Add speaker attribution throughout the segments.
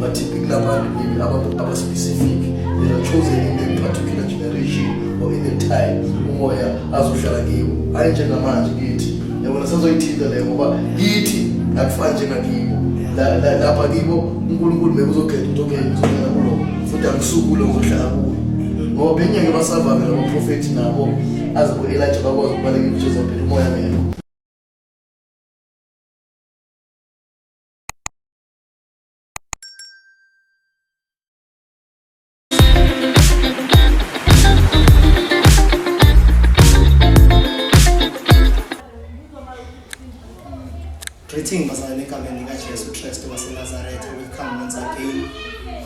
Speaker 1: but typically abantu maybe abaspecific they are chosen in a particular generation or in a time umoya azohlala kiwo hhayi njengamanje kithi yabona sazoyithinta leyo ngoba kithi akufani njengakibo lapha kibo unkulunkulu bekuzokhetha ukuthi okay ngizongena kulo futhi angisukule ngokuhlala kuyo ngoba bengeke basavame labaprofethi nabo aze ku-elija bakwazi ukubaleka imjezaphela umoya ngekho Greeting bazalwane egameni likaJesu Kristu waseNazaretha. Welcome once again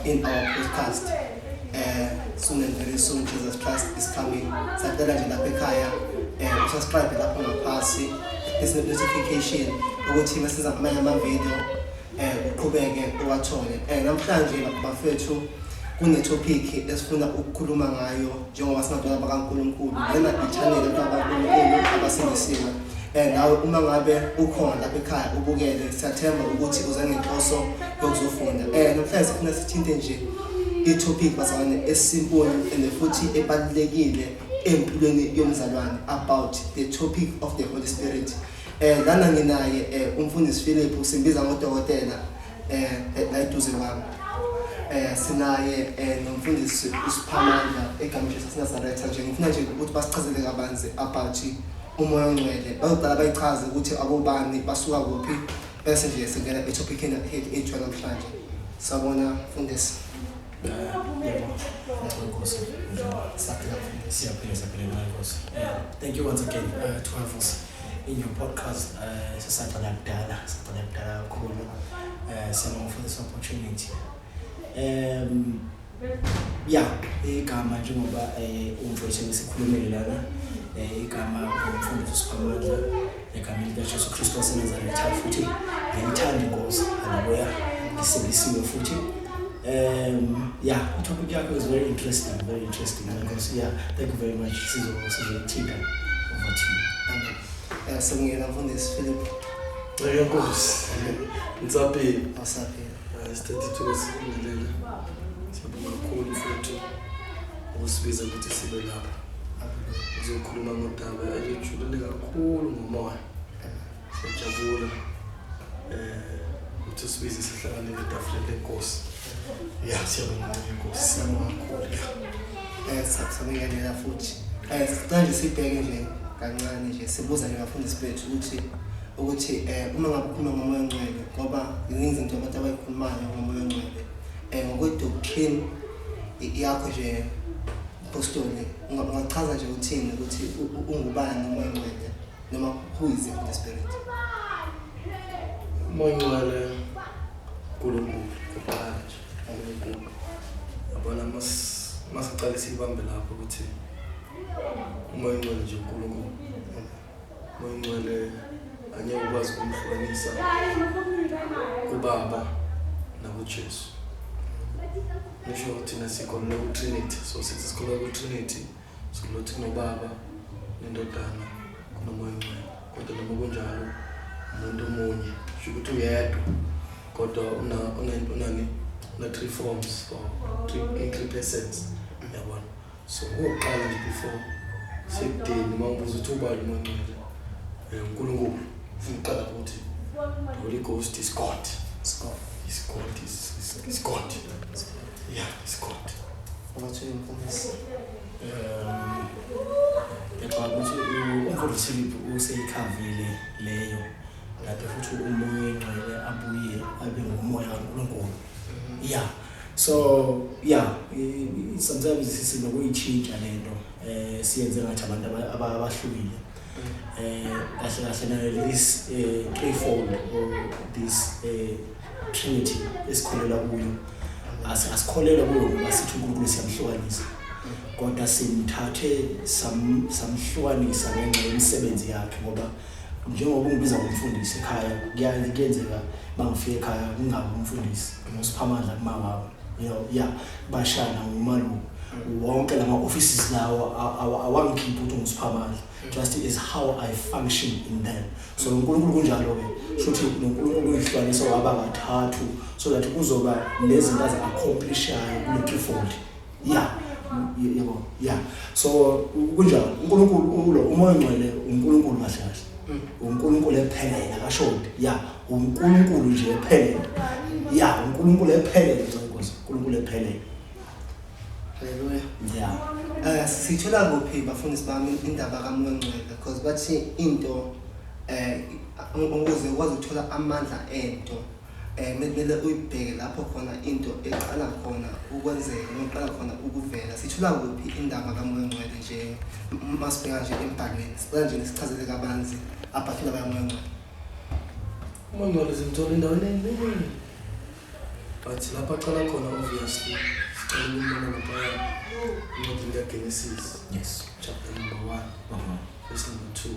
Speaker 1: in our podcast. eh soon and very soon Jesus Christ is coming sacela nje lapha ekhaya eh subscribe lapho ngaphansi this notification ukuthi masiza amanye ama video eh uqhubeke uwathole eh namhlanje bafethu kune topic esifuna ukukhuluma ngayo njengoba singabantu bakaNkuluNkulu lena i-channel kaNkuluNkulu abasindisiwe eh nawe uma ngabe ukhona lapha ekhaya ubukele siyathemba ukuthi uze ngenhloso yokuzofunda eh namhlanje sifuna sithinte nje i-topic bazalwane esimple and futhi ebalulekile empilweni yomzalwane about the topic of the holy spirit eh lana nginaye eh, umfundisi Philip usimbiza ngodokotela eh la iduze kwami eh sinaye eh, nomfundisi uSiphamandla egameni laseNazaretha nje ngifuna nje ukuthi basichazele kabanzi about umoya ongcwele bazoqala bayichaze ukuthi abobani basuka kuphi Bese nje singena etophikini elihead intro namhlanje. Sabona mfundisi. Thank you once again uh, to have us in your podcast. Uh, sisaqala kudala, sisaqala kudala kakhulu. Uh, siyabonga for this opportunity. Um, ya igama njengoba um umfowethu engisikhulumele lana um igama umfundisi usiphamandla egameni likajesu kristu wasenazaretha futhi ngiyayithanda inkosi haleluya ngisindisiwe futhi um ya itopic yakho is very interesting very interesting nkosi ya thank you very much sizoyithinta over to you sibongela mfundisi philip nkosi
Speaker 2: ngisaphila ukusibiza ukuthi sibe lapha uzokhuluma ngodaba elijulile kakhulu ngomoya siyajabula um eh, ukuthi usibize sihlangane letafuleni lenkosi ya siyabonga inkosi siyabonga kakhulu ya eh,
Speaker 1: sakusabekelela futhi um eh, sicale sibheke nje kancane nje sibuza nje bafundisi bethu ukuthi ukuthi um uma ngabe ukhuluma ngomoya ongcwele ngoba ziningi izinto abantu abayikhulumayo ngomoya ongcwele um ngokwe-doctrine yakho nje postoli ungachaza nje uthini ukuthi ungubani umoya ongcwele noma who is the holy spirit
Speaker 2: umoya ongcwele nkulunkulu kuqala nje unkulunkulu yabona masiqale siyibambe lapho ukuthi umoya ongcwele nje unkulunkulu Mongcwele angeke ukwazi kumhlukanisa kubaba nakuJesu. Nisho ukuthi thina sikholelwa kuTrinity, so sithi sikholelwa kuTrinity, sikholelwa ukuthi kunobaba nendodana kunomoya ongcwele. Kodwa noma kunjalo umuntu omunye, sho ukuthi uyedwa kodwa una unani una three forms or three, three persons yabona so okokuqala nje before sekudeni uma ubuza ukuthi ubani umancwele um unkulunkulu ufuna uqala ukuthi holy ghost is god is god is god is, is, is god yeah is god ungathini
Speaker 1: mfundisi um ngiyacabanga
Speaker 3: ukuthi umfundisi philip useyikhavile leyo kanti futhi umoya oyingcwele abuye abe ngumoya kankulunkulu mm-hmm. ya yeah. So yeah, sometimes sinokuyitshintsha lento eh siyenze ngathi abantu abahlukile. Eh kahle kahle nayo this eh threefold or this eh trinity esikholela kuyo. Asikholelwa kuyo ngoba sithi uNkulunkulu siyamhlukanisa. Kodwa simthathe samhlukanisa ngenxa yemisebenzi yakhe ngoba njengoba ungibiza ngomfundisi ekhaya kuyaye kuyenzeka bangifika ekhaya kungabi umfundisi ngosiphamandla kumawabo ya bashana ngumaluku wonke lama offices lawo awangikhiphi ukuthi ngisiphamandla just is how i function in them so uNkulunkulu kunjalo ke shothi noNkulunkulu uyihlukanisa waba kathathu so that kuzoba nezinto azi-accomplishayo kule-threefold ya yebo ya so kunjalo uNkulunkulu ulo umoya ongcwele uNkulunkulu mashashi mm. uNkulunkulu ephelele akashodi ya uNkulunkulu nje ephelele ya uNkulunkulu ephelele nkosi uNkulunkulu ephelele haleluya ya eh sithola kuphi
Speaker 1: bafundisi bami indaba kamoya ongcwele because bathi into eh ukuze ukwazi ukuthola amandla ento um bekumele uyibheke lapho khona into eqala khona ukwenzeka noma iqala khona ukuvela sithola kuphi indaba kamoya ongcwele nje uma sibheka nje embhalweni sicela nje nisichazele kabanzi abhafile bayamoya ongcwele
Speaker 2: umoya ongcwele simthola endaweni eningi but lapho aqala khona obviously sicela ukumbona laphaya incwadi likagenesis yes
Speaker 3: chapter number one uh
Speaker 2: -huh. verse number two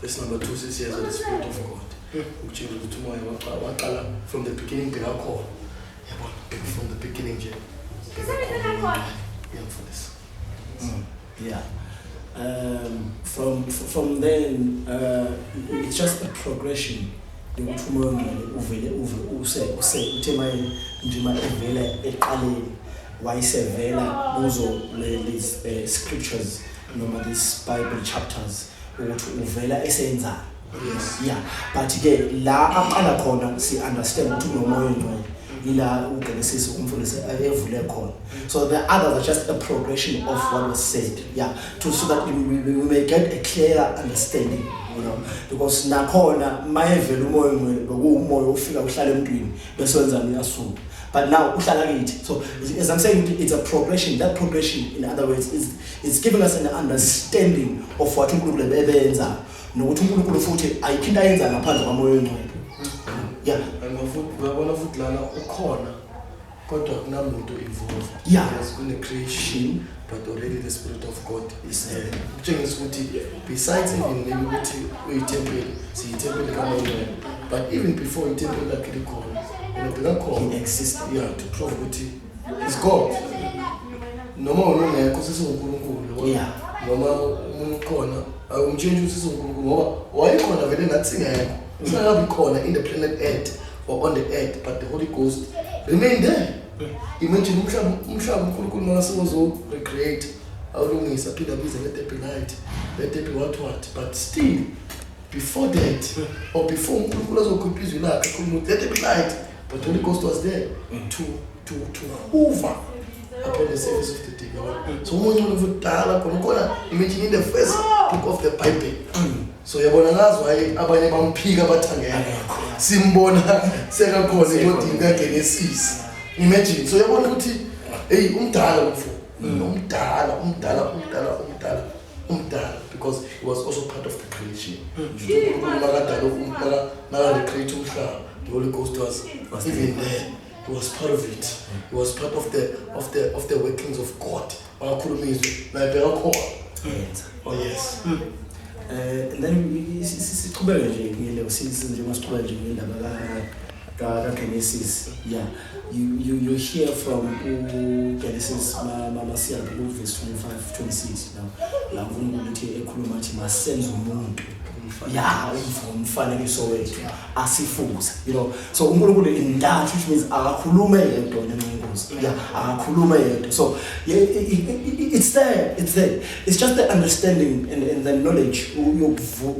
Speaker 2: Verse number 2 says here that the Spirit of God. Ukutshela ukuthi umoya waqala from the beginning bekakhona. Yabona, bheka from the beginning nje. Ngiyamfundisa. Mm,
Speaker 3: yeah. Um, from from then uh, it's just a progression yokuthi umoya ongcwele uvele uve use use uthe maye nje ma evela eqaleni wayesevela kuzo lezi eh, scriptures noma these bible chapters ukuthi uvela esenzani yes yeah but ke la aqala khona si understand ukuthi unomoya ongcwele ila ugenesisi umfundisi evule khona so the others are just a progression of what was said yeah to so that we, we, we may get a clear understanding you know because nakhona mayevela umoya ongcwele bekuwumoya ofika uhlala emntwini bese wenza uyasuka but now uhlala kithi so as i'm saying it's a progression that progression in other words is It's given us an understanding of what uNkulunkulu ebebenza nokuthi uNkulunkulu futhi ayikho into ayenza ngaphandle kwamoya oyingcwele. Yeah. Ngofuthi ngabona
Speaker 2: futhi lana ukhona kodwa kunamuntu involved. Yeah. Yes, kune
Speaker 3: creation
Speaker 2: but already the spirit of God is there. Kutshengisa ukuthi besides even maybe ukuthi uyithempeli siyithempeli kamoya oyingcwele but even before ithempeli lakhe likhona unobheka khona. He exists. Yeah, to
Speaker 3: prove ukuthi
Speaker 2: is God noma wena ungekho sesiwunkulunkulu yabona Yeah. noma umuntu ukhona awumtshintshe ukuthi siwunkulunkulu ngoba wayekhona vele nathi singekho singakabi khona in the planet earth or on the earth but the holy ghost remain there imagine umhlaba umhlaba unkulunkulu makasewozorecreate awulungise aphinde abize ngedebilite ngedebi what what but still Before that, or before uNkulunkulu azokhipha izwi lakhe ekhuluma ukuthi let it be light, but the Holy Ghost was there to to to hoover upon the surface of the deep. yabo. So umuntu olokudala khona ukhona imagine in the first book of the Bible. So yabona ngazi why abanye bamphika bathangena. Simbona sekakhona incwadini kaGenesis. Imagine. So yabona ukuthi hey umdala mfo. Umdala, umdala, umdala, umdala. umdala because he was also part of the creation makadalomakarecreate hmm. umhlaba the holy ghost was even there he was part of it he was part of the, of the, of the workings of god wakakhuluma izwi naye bekakhona oh yes mm.
Speaker 3: Eh, then siqhubeke nje ngile usisi njengoba siqhubeke nje ngendaba ka kaGenesis yeah you, you, you hear from uGenesis mamasiyaphi ku-verse 25 26 now la nkulunkulu uthi ekhuluma athi masenze umuntu ya umfanekiso wethu asifuze you know so unkulunkulu intathu which means akakhulume yedwa nenqingozi ya akakhulume yedwa so it's there it's there it's just the understanding and, and the knowledge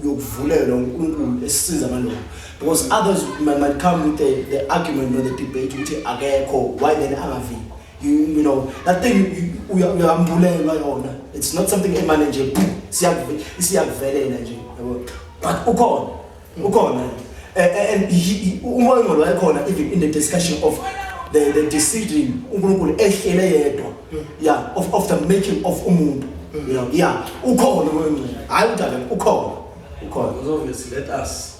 Speaker 3: yokuvulelwa unkulunkulu esisiza amalungu because others might, might come with the, the argument or the debate ukuthi akekho why then angavi you, you know that thing uyambulelwa yona it's not something emane nje isiyakuvelela nje yabo but ukhona ukhona eh, eh, and umoya ongcwele wayekhona even in the discussion of the, the decision unkulunkulu ehlele yedwa yeah of, of the making of umuntu you know yeah ukhona umoya ongcwele hhayi udala ukhona ukhona
Speaker 2: let us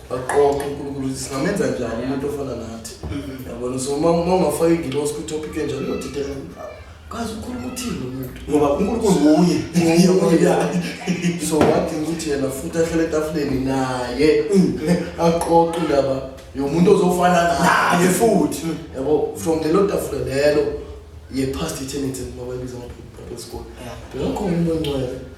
Speaker 3: aqoqe
Speaker 2: unkulunkulu ukuthi singamenza njani umuntu ofana nathi mm-hmm. yabona so uma ungafaka ingilosi kwitopic enjalo uyodidela kazi ukhuluma uthini lo muntu ngoba unkulunkulu
Speaker 3: nguye
Speaker 2: so wadinga ukuthi yena futhi ahlele etafuleni naye mm. aqoqe indaba yomuntu ozofana naye futhi mm. yabo from lelo tafula lelo ye-past eternity ngoba ibiza ama-people school bekakho umuntu ongcwele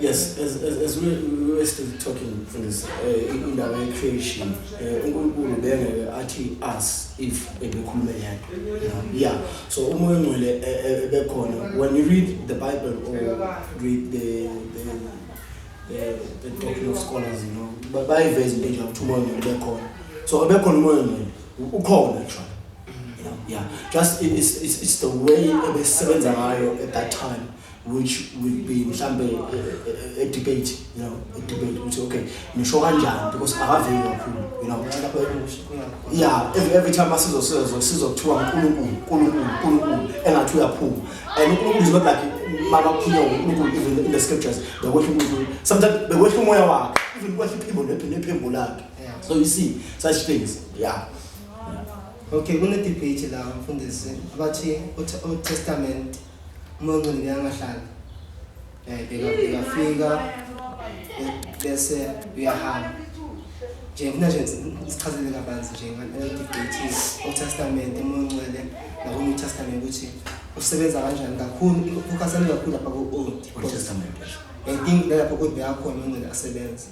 Speaker 3: Yes, as, as, as we, we were still talking things uh, in the way creation, eh, uNkulunkulu uh, bengeke athi us if ebekhuluma yena. Yeah. So umoya ngcwele ebekhona. When you read the Bible or read the the the, the doctrine of scholars, you know, bayiveza into nje ukuthi umoya ngcwele bekhona. So ebekhona umoya ngcwele ukhona actually. yeah, yeah. just it, it's, it's, it's the way ebesebenza ngayo at that time which will be mhlambe eh, eh, eh, a debate you know a debate ukuthi okay nisho kanjani because akaveli kakhulu you know yeah every, every time asizosizwa sizokuthiwa uNkulunkulu uNkulunkulu uNkulunkulu engathi uyaphuma and uNkulunkulu is not like mama kukhulunywa uNkulunkulu even in the scriptures bekwehla uNkulunkulu sometimes bekwehla umoya wakhe even kwehla iphimbo nephimbo lakhe so you see such things yeah
Speaker 1: Okay, kune-debate la mfundisi abathi Old Testament uma ungcwele uyangahlala um bekafika bese uyahamba nje ngifuna nje sichazele kabanzi nje ngalelo-debate Old Testament uma ungcwele naku-New Testament ukuthi usebenza kanjani kakhulu ukhathane kakhulu lapha ku-old I think nalapho old beyakhona ungcwele asebenza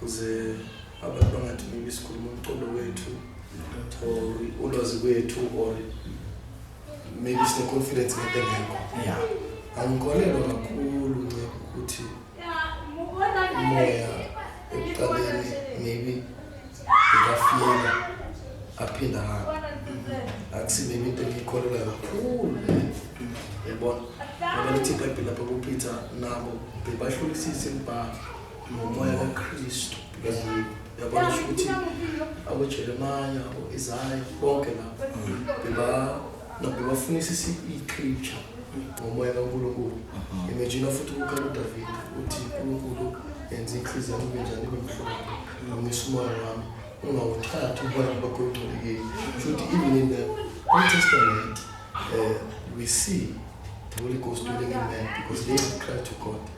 Speaker 2: kuze abantu bangathi maybe sikhuluma umqondo wethu or ulwazi kwethu or maybe sine-confidence ngento engekho ya
Speaker 3: angikholelwa
Speaker 2: kakhulu nce ukuthi umoya ekuqaleni maybe ngikafiyela aphinde ahambe akusi maybe into engiyikholelwa kakhulu yabona ngoba lithi ibhayibhile lapha kupeter nabo bebahlulisise imibhalo ngomoya kaKristu because uyabona ngisho ukuthi aboJeremaya aboIsaya bonke lapho beba nabo bebafundisa i-scripture ngomoya kaNkulunkulu imagine futhi ukukhala uDavid uthi uNkulunkulu yenza inhliziyo yami ibe njani ibe mhlophe ngomisa umoya wami ungawuthathi umoya bakho ongcolekile shuthi even in the old testament uh, we see the holy ghost doing in man because they cry to god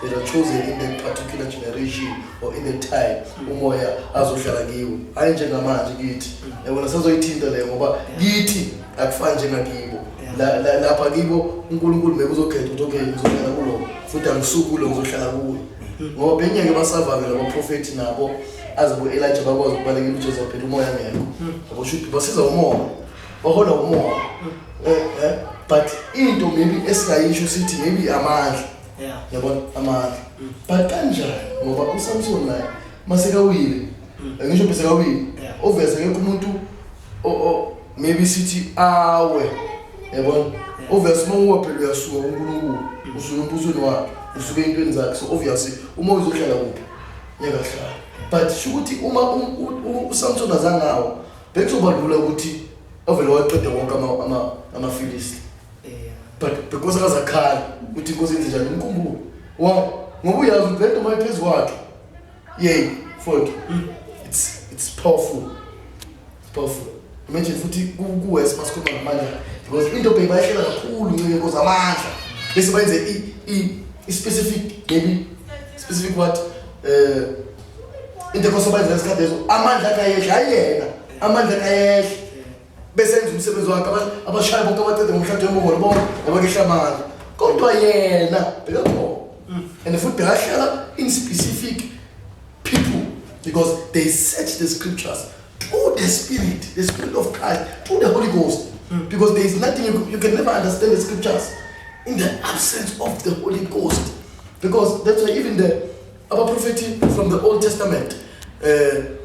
Speaker 2: They are chosen in that particular generation or in that time umoya azohlala kiwo hayi njengamanje kithi yabona sazoyithinta leyo ngoba kithi akufani njengakibo La- la- lapha kibo unkulunkulu maybe uzokhetha ukuthi okay ngizohlala kulo futhi angisuku kulo ngizohlala kuyo ngoba bengeke basavame labaprofethi nabo aze bo-elija bakwazi ukubalekela ujesu phela umoya ngekho yabo shuthi basiza umoya bahola umoya Eh, eh. but into maybe esingayisho sithi maybe amandla yeah yabona
Speaker 1: amandla
Speaker 2: mm. but kanjani ngoba uSamson naye masekawile mm. ngisho bese kawile obvious akekho umuntu o maybe sithi awe yabona obvious uma uwa phela uyasuka uNkulunkulu mm. usuka empusweni wakhe usuke intweni zakhe so obviously uma uzohlala kuphi yakahlala but sho ukuthi uma uSamson azangawo bekuzobalula ukuthi ovele waqeda wonke ama ama amafilisti but because akazakhala uthi inkosi enzenjani umkhumbulo wa ngoba uyazi ukuthi lento mayiphezu kwakhe yey foti it's it's powerful it's powerful imagine futhi kuwes masikhuluma ngamandla because into beyibayehlela kakhulu ncike inkosi amandla bese bayenze i-specific maybe specific what um into ekosobayenza ngesikhathi lezo amandla akayehla ayiyena amandla akayehla besenza umsebenzi wakhe abashaya bonke abacede ngomshado wembongolo bonke abakehla amandla kodwa yena bekakhona mm. and futhi bekahlala in specific people because they search the scriptures through the spirit the spirit of christ through the holy ghost mm. because there is nothing you, you can never understand the scriptures in the absence of the holy ghost because that's why even the abaprofethi from the old testament um uh,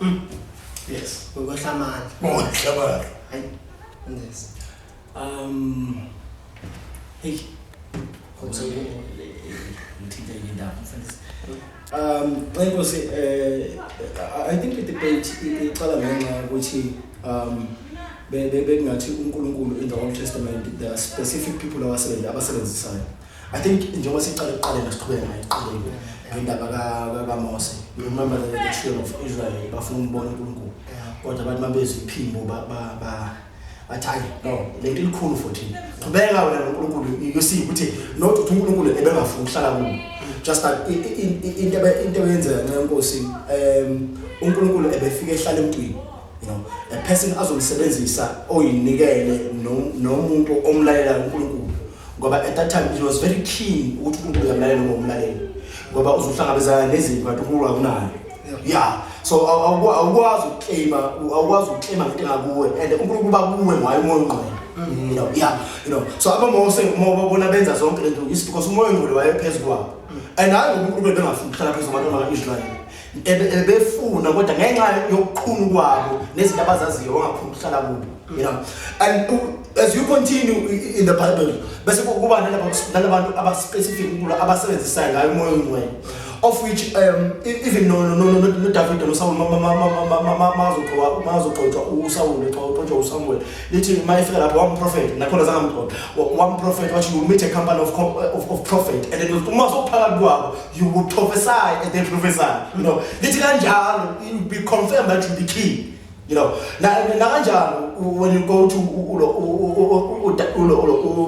Speaker 2: Mm. Yes. Ngokwehla amandla. Ngokwehla
Speaker 3: amandla. Hayi. Yes. Um. Hey. Kodwa ngithinte indaba mfundisi. Um, nxenkosi eh I think the debate iqala ngenxa ukuthi um bekungathi uNkulunkulu in the Old Testament there are specific people abasebenza abasebenzisayo. I think njengoba siqale ukuqalela siqhubeke nayo iqhubeke ngendaba kaMose you remember the, the children of Israel bafuna umbona uNkulunkulu kodwa abantu mabezwe iphimbo bathi hayi no le nto ilikhulu futhi qhubeka wena noNkulunkulu you see ukuthi not ukuthi uNkulunkulu ebengafuni ukuhlala kubo just that into into eyenzeka nxa inkosi um uNkulunkulu ebefike ehlala emntwini you know a person azomsebenzisa oyinikele nomuntu omlalela uNkulunkulu ngoba at that time he was very keen ukuthi umuntu uyamlalela noma umlaleli ngoba uzohlangabezana nezinto kanti unkulunkulu akunayo ya so awukwazi ukuclaima awukwazi ukuclaima ngento engakuwe and unkulunkulu bakuwe ngayo umoya ongqwele mm-hmm. you know yeah you know so abamose uma babona benza zonke lento is because umoya ongqwele wayephezu kwabo mm. and hayi ngoba unkulunkulu bengafuni ukuhlala phezu kwabantu abaka-israyeli ebefuna kodwa ngenxa yokuqhunu kwabo nezinto abazaziyo wangafuna ukuhlala kubo you know and as you continue in the bible bese kuba nalabantu abaspecific ukulo abasebenzisayo ngayo umoya ongcwele of which um, e, even no, no, no, no, no David no Saul mazoqoqa mazoqoqa uSaul eqoqa uSamuel lithi mayefika lapho wam prophet nakhona zangamqoqa wam prophet wathi you meet a company of of, of prophet and then uma sophakathi kwabo you will prophesy and then prophesy you know lithi kanjalo you be confirmed that you be king you know na nakanjalo when you go to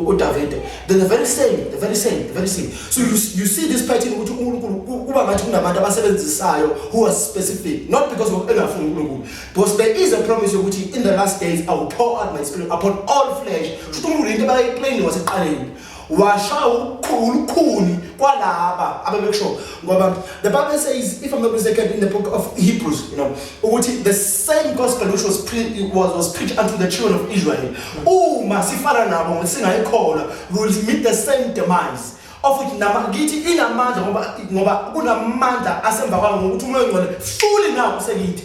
Speaker 3: uDavid the very same the very same the very same so you you see this pattern ukuthi uNkulunkulu kuba ngathi kunabantu abasebenzisayo who are specific not because of engafuni uNkulunkulu because there is a promise ukuthi in the last days I will pour out my spirit upon all flesh futhi uNkulunkulu into abayiplain waseqaleni washaya ukuqhuba ulukhuni kwalaba abebekusho ngoba the bible says if i'm not mistaken in the book of hebrews you know ukuthi the same gospel which was, pre was, was preached unto the children of israel uma sifana nabo ngokuthi singayikholwa we will meet the same demise of which nama ngithi inamandla ngoba ngoba kunamandla asemva kwami ngokuthi umoya ongcwele fully nawo usekithi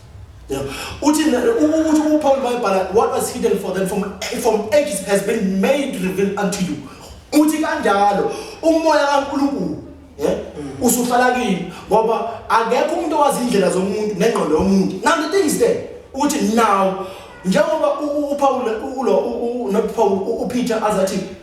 Speaker 3: Yeah. Uthi ukuthi uPaul wayebhala what was hidden for them from from ages has been made revealed unto you. Uthi kanjalo umoya kaNkulunkulu yeah mm. usuhlala kini ngoba akekho umuntu owazi indlela zomuntu nengqondo yomuntu. Now the thing is there uthi now njengoba uPaul ulo not Paul uPeter azathi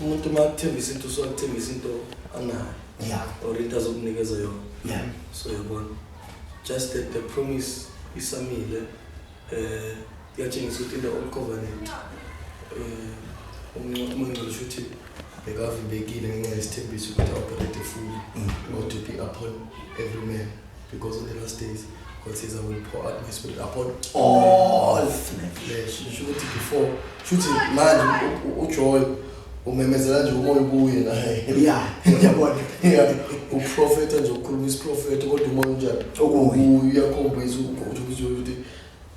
Speaker 2: umuntu uma akuthembisa into usuke akuthembisa into anayo yeah. or into azokunikeza yona yeah. so yabona just that the promise isamile um uh, iyatshengisa ukuthi into old covenant um uh, umangcolo sho ukuthi bekavimbekile ngenxa yesithembiso ukuthi aoperate fully mm. or to be upon every man because of the last days God says I will pour out my spirit upon all flesh sho ukuthi before sho ukuthi manje ujoy umemezela nje umoya kuye naye ya yabona
Speaker 3: ya
Speaker 2: uprofeta nje ukhuluma isiprofeta kodwa umoya unjani okuye uyakhombisa ukuthi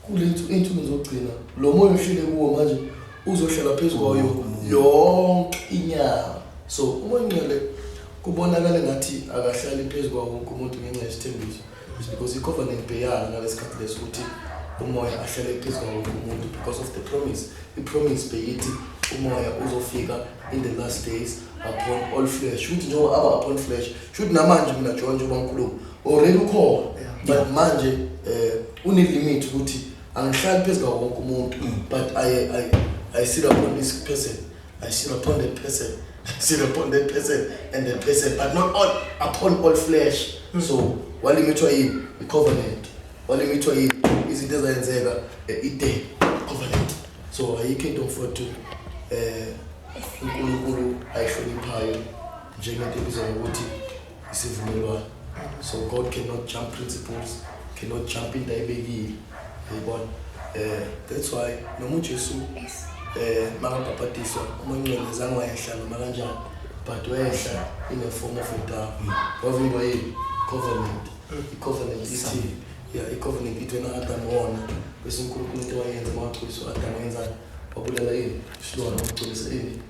Speaker 2: Kulethu insuku zokugcina lo moya ohlele kuwo manje uzohlala phezu kwayo yonke inyanga. So umoya ongcwele kubonakala ngathi akahlali phezu kwawo wonke umuntu ngenxa yesithembiso. It's because i-covenant beyala ngalesikhathi leso ukuthi umoya ahlale phezu kwawo wonke umuntu because of the promise. I-promise beyithi umoya uzofika in the last days upon all flesh. Shuthi njengoba aba upon flesh, shuthi namanje mina John njengoba ngikhuluma already ukhona but manje eh une limit ukuthi angihlali phezulu kwawo wonke umuntu mm. but i i i sit upon this person i sit upon that person i sit upon that person and that person but not all upon all flesh mm. so walimithwa yini i covenant walimithwa yini izinto ezayenzeka eh, i day covenant so ayikho into mfowethu eh uNkulunkulu ayihloniphayo njengento ebizwa ngokuthi isivumelwano so god cannot jump principles cannot jump into ayibekile yayibona eh that's why noma uJesu eh makabhabhadiswa uMncwele zange wayehla noma kanjani but wayehla in the form of a dove wavimba yini covenant i-covenant ithi ya i-covenant ithi wena Adam wona bese uNkulunkulu into wayenza mawagcwisa uAdam wenzani wabulala yini isilwane wagcwisa yini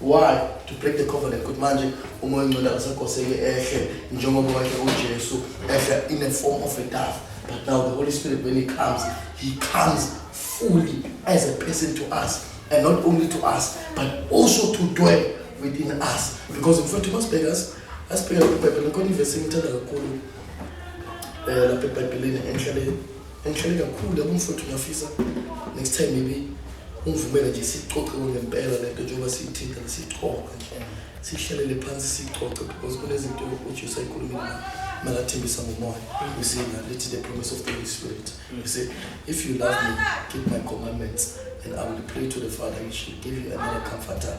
Speaker 2: Why? To break the covenant ukuthi manje umoya ongcwele akasekoseki ehle njengoba wakhe uJesu ehla in a form of a dove. But now the Holy Spirit when he comes, he comes fully as a person to us and not only to us but also to dwell within us because mfowethu masibheka asibheka iBhayibheli khona ivesi engithanda kakhulu eh lapha eBhayibhelini enhlaleni Ngithele kakhulu yabo mfowethu ngiyafisa next time maybe ungivumele nje sixoxe ngempela lento njengoba siyithinta nesixoxe nje sihlelele phansi sixoxe because kunezinto ukuthi usayikhulumile makathembisa ngomoya you see na lithi the promise of the holy spirit you see if you love me keep my commandments and i will pray to the father and she give you another comforter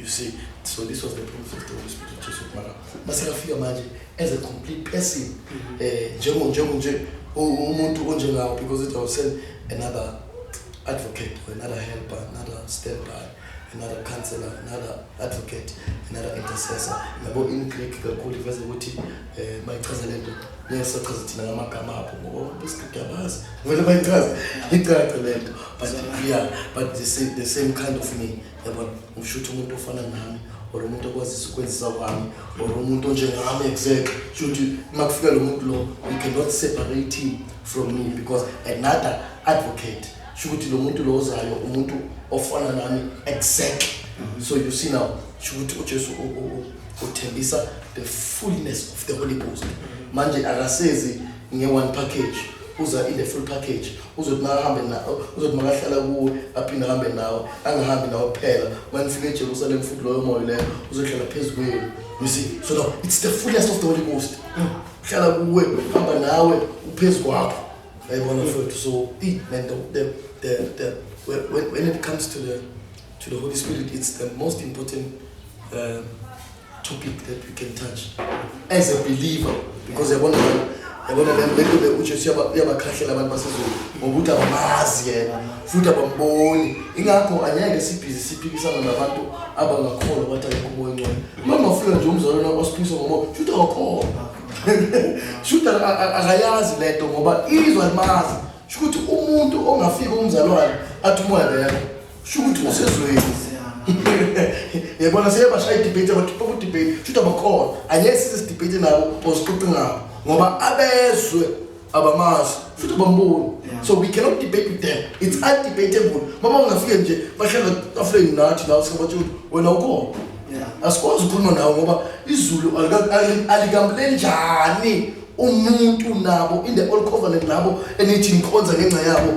Speaker 2: you see so this was the promise of the Holy Spirit of Jesus mara masekafika manje as a complete person mm-hmm. eh njengo njengo nje umuntu onjengawo because it was another advocate or another helper another standby another counselor another advocate another intercessor yabo in Greek kakhulu iveze ukuthi eh bayichaza lento nesachaza thina ngamagama apho ngoba besikade abazi vele bayichaza icace lento but yeah but the same, the same kind of me yabona ngisho ukuthi umuntu ofana nami or umuntu okwazisa ukwenzisa kwami or umuntu onjengami exactly sho ukuthi uma kufika lo muntu lo you cannot separate him from me because another advocate sho ukuthi lo muntu lo ozayo umuntu ofana nami exactly mhm. so you see now sho ukuthi ujesu uthembisa the fullness of the holy ghost mhm. manje akasezi nge-one package uza in the full package uzothi makahambe nawo uzothi makahlala kuwe aphinde ahambe nawo angahambi nawo kuphela uma nifika ejerusalem futhi loyo moya leyo uzohlala phezu kwenu you see so no it's the fullest of the holy ghost uhlala kuwe hamba nawe uphezu kwakho yayibona mfowethu so i nento the the the when, when it comes to the to the holy spirit it's the most important um, topic that we can touch as a believer because yabona yabona lento bekujesu uyabakhahlela abantu basezulu ngokuthi abamazi yena futhi abamboni ingakho angeke sibhizi siphikisana nabantu abangakholwa bathi ayikho umoya ongcwele uma ungafika nje umzalwana osiphikisa ngomoya shuthi akakhona shuthi akayazi le nto ngoba izwa limazi shukuthi umuntu ongafika umzalwane athi umoya leyakho Shukuthi usezweni. Yabona seyabashaya idebate abakhipha ku debate. Shuthi abakhona. Angeke size debate nabo ozixoxi ngabo ngoba abezwe abamazi futhi bamboni. So we cannot debate with them. It's undebatable. Mama ungafike nje bahlala afleni nathi la usebathi wena ukhona. Asikwazi ukukhuluma nawe ngoba izulu alikambuleni njani umuntu nabo in the old covenant labo enithi nikhonza ngenxa yabo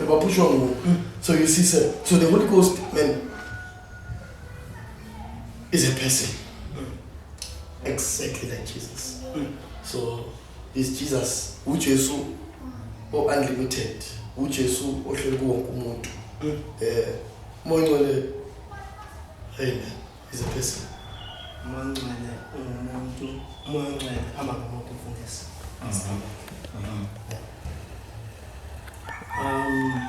Speaker 2: bebapushwa nguwo so you see sir so the holy ghost man is a person exactly like jesus so is jesus ujesu o-unlimited ujesu ohleli kuwonke umuntu um eh, moya ongcwele amen is a person
Speaker 1: umancane ungumuntu umancane hamba ngomuntu mfundisi mm-hmm. um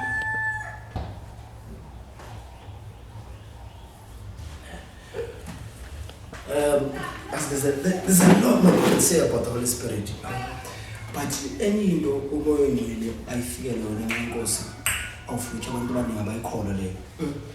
Speaker 3: um there's a, there's a lot more we can say about the holy spirit but enye into umoya ongcwele ayifike lona nxa inkosi awufuthi abantu abaningi abayikholwa leyo mm.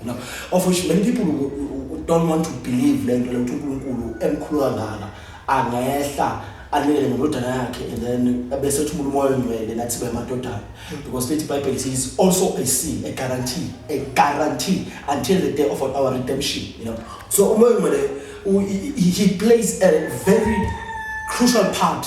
Speaker 3: You know, of which many people don't want to believe le nto le ukuthi uNkulunkulu emkhulu kangaka angehla anikele nendodana yakhe and then bese thumula umoya ongcwele nathi sibe amadodana because lithi ibhayibheli is also a seal a guarantee a guarantee until the day of our redemption you know so umoya ongcwele he plays a very crucial part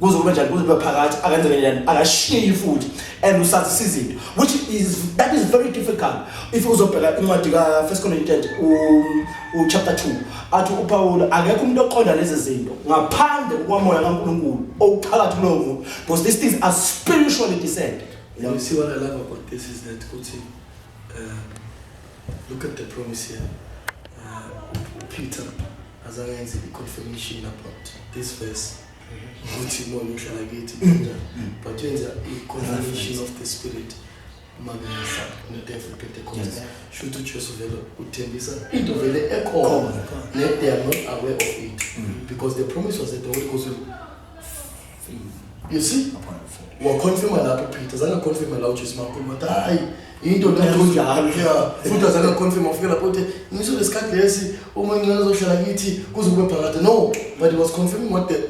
Speaker 3: kuze kube njani kuze kube phakathi akenze ngenjani akashiyi futhi and usazisa izinto which is that is very difficult if uzobheka incwadi ka first corinthians u chapter 2 athi upawulu akekho umuntu oqonda lezi zinto ngaphandle kwamoya kankulunkulu owuphakathi kulowo muntu because these things are spiritually descended you know? you see what i love
Speaker 2: about this is that ukuthi uh, look at the promise here uh, peter Azange yenze i-confirmation about this verse ukuthi imona ihlala kithi kanjani but yenza i-confirmation of the spirit makusa nedevil pentecost shuthi ujesu vele uthembisa into vele ekhona ne they are not aware of it mm. because the promise was that the holy ghost will you see waconfirma lapho peter zange aconfirme la ujesu makhulu wathi hayi into leonjalo ya futhi azange aconfirma ufike lapho uthi ngiso lesikhathi lesi uma incane zohlala kithi kuze kube phakade no but he was confirming what the,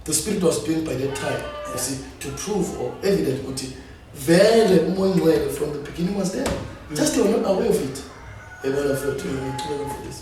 Speaker 2: the spirit was doing by that time you see to prove or evident ukuthi vele umoya ongcwele from the beginning was there just they were not aware of it ebona futhi ngiqhubeka mfundisi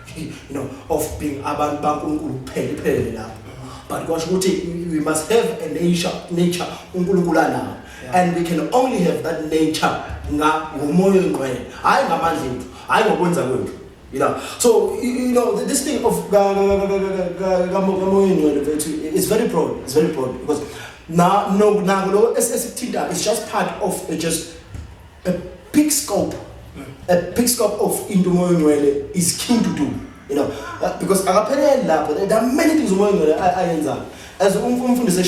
Speaker 3: you know of being abantu baNkulunkulu kuphela iphelele lapho but kwasho ukuthi we must have a nature nature uNkulunkulu anawo and we can only have that nature nga ngomoya ongcwele hayi ngamandla ethu hayi ngokwenza kwethu you know so you know this thing of kamoya ongcwele mfethu is very broad it's very broad because na no na lo esithinta is just part of just a big scope a big scope of into umoya ongcwele is keen to do you know uh, because akaphelele lapho there are many things umoya ongcwele ayenzayo as umfundisi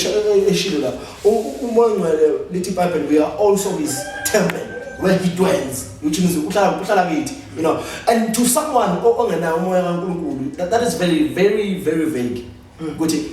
Speaker 3: eshilo lapho umoya ongcwele lithi bible we are also his temple where he dwells which means uhlala uhlala kithi you know and to someone ongenayo umoya kaNkuluNkulu that is very very very vague hmm. ukuthi mm.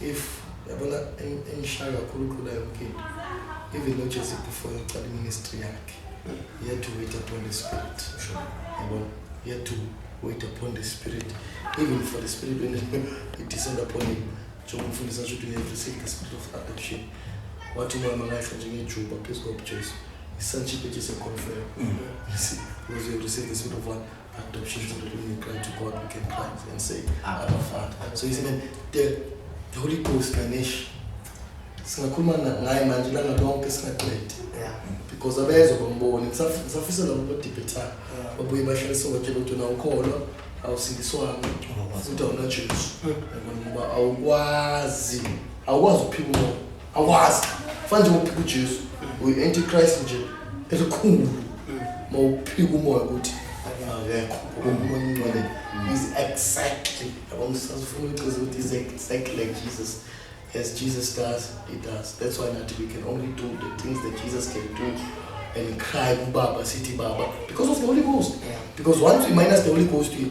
Speaker 2: if yabona engishaya kakhulu ukhula yonke into even nojesi before yokuqala iministry yakhe he had to wait upon the spirit yabona he had to wait upon the spirit even for the spirit when it descend upon him njengoba umfundisi asho ukuthi we have received the spirit of adoption wathi umoya mangayihla njengejuba phezu kobujesu isantship ejiseconfirm mm. because we have received the spirit of one Adoption is the way you cry to God, we can cry and say, Abba Father. So he's saying, the, the Holy Ghost, Ganesh, singakhuluma ngaye manje ilanga lonke singaqedi because abezwa bamboni ngisafisa labo bodibhetha babuye bahlalise batshela ukuthi na ukholwa awusindiswanga futhi awunajesu ngoba awukwazi awukwazi ukuphika umoya Akwazi. Fana nje uphika uJesu. Uyi antichrist nje. Elikhulu. Mawuphika umoya ukuthi akekho umuntu ongcwele is exactly yabo ngisafuna ukuchaza ukuthi is exactly like Jesus as Jesus does he does that's why not we can only do the things that Jesus can do and cry kubaba sithi baba because of the Holy Ghost because once we minus the Holy Ghost we